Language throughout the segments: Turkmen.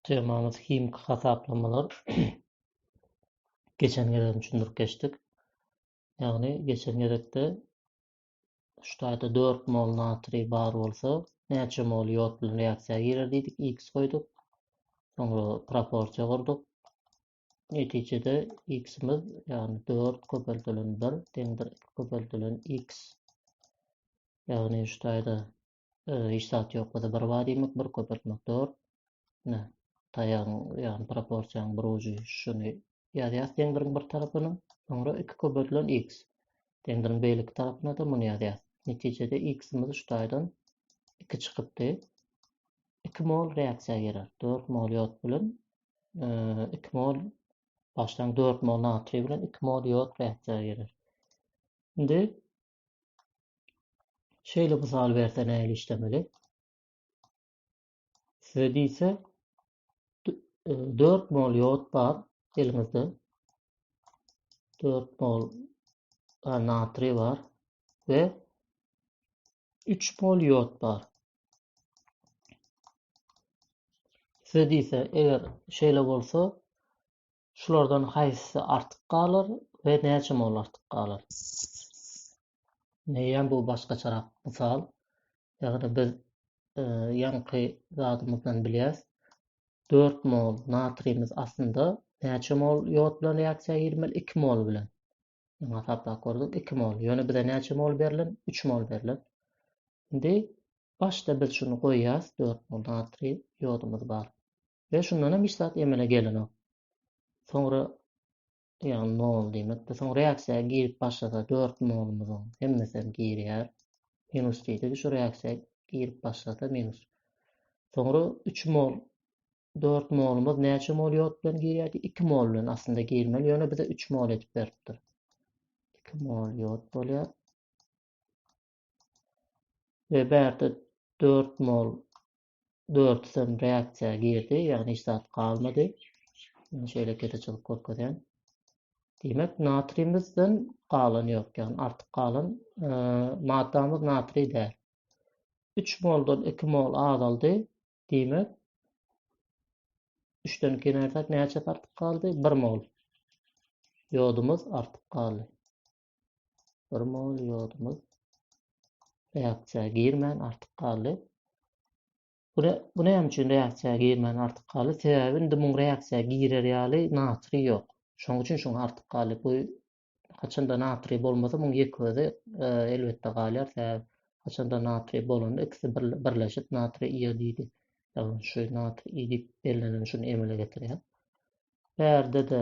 Temamyz himiki hasaplamalar. geçen gezek düşündirip geçdik. Ýagny geçen gezekde ştaýda 4 mol natriý bar bolsa, näçe mol ýod bilen reaksiýa girer diýdik, x goýduk. Soňra proporsiýa gurduk. Netijede x-imiz, ýagny 4 köpeldilen 1 deňdir 2 köpeldilen x. Ýagny ştaýda Hiç zat ýok bolsa bir wad iýmek, bir köpeltmek dor. Ine, taýagyň, ýagny proporsiýanyň bir ujy şuny ýazýas deňdiriň bir tarapyna, soňra iki köpeltilen x. Deňdiriň beýleki tarapyna-da muny ýazýas. Netijede x-imiz şu taýdan iki çykypdy. Iki mol reaksiýa girer. Dört mol ýod bilen iki mol başlaň dört mol natriý bilen iki mol ýod reaksiýa girer. Indi Şeýle mysal berse nähili işlemeli? Size diýse 4 e, mol ýod bar eliňizde. 4 mol natriý bar we 3 mol ýod bar. Size diýse eger şeýle bolsa Şulardan haýsy artyk galar we näçe mol artyk galar? Meýem bu başgaçarak mysal. Ýagny biz ýaňky zadymyzdan bilýäs. Dört mol natriýimiz aslynda näçe mol ýod bilen reaksiýa girmeli? Iki mol bilen. Ýöne hasaplap gördük, iki mol. Ýöne bize näçe mol berlen? Üç mol berlen. Indi başda biz şuny goýýas, dört mol natriý ýodumyz bar. Ýöne şundanam hiç zat emele gelenok. Soňra ýagny nol diýmekdir. Soň reaksiýa girip başlasa 4 nolumyzyň hemmesem girýär. Minus diýdik. Şu reaksiýa girip başlasa minus. Soňra 3 mol 4 molumuz näçe mol ýod bilen girýärdi? 2 mol bilen aslynda girmeli, ýöne bize 3 mol edip beripdir. 2 mol ýod bolýar. Ve bärde 4 mol dörtüsem reaksiýa girdi, ýagny hiç zat galmady. Indi şeýle keseçilik görkezýän. Diýmek, natriýimizden galan ýok, ýagny artyk galan e, maddamyz natriý däl. 3 moldan 2 mol azaldy. Diýmek, 3-den 2 näçe artyk galdy? 1 mol. Ýodumyz artyk galdy. Bir mol ýodumyz reaksiýa girmän artyk galdy. Bu bu näme üçin reaksiýa girmän artyk galdy? Sebäbi indi muň reaksiýa girer ýaly natriý ýok. Şoň üçin şoň artyk galdy. Bu haçanda natriý bolmasa muň ýek özi e, elbetde galýar. Sebäbi haçanda natriý bolanda ikisi birleşip natriý iodidi şu natriý iodid bellenileni şuny emele getirýär. Bärde-de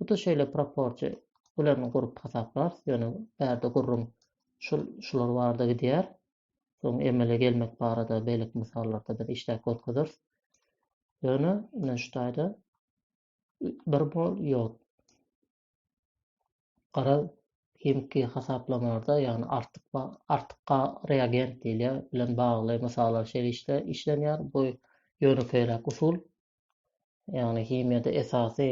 Hut şeýle proporsiýa bilen gurup hasaplarys, ýöne bärde gürrüň şul şular barada gidýär. Soň emele gelmek barada beýleki mysallarda biz işläp görkezeris. Ýöne ine şu taýda bir mol ýod. Gara himiki hasaplamalarda, ýagny artyk artyk reagent diýilýär, bilen bagly mysallar şeýle işlenýär. Bu ýönekeýräk usul. ýagny himiýada esasy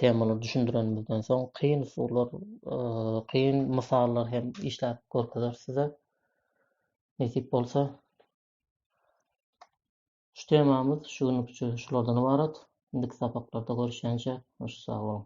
temalary düşündirenimizden soň kyn usullar, kyn mysallar hem işläp görkezeris size. Nesip bolsa. Şu temamyz şu günlük üçin şulardan ybarat. Indiki sapaklarda görüşýänçä, hoş sag boluň.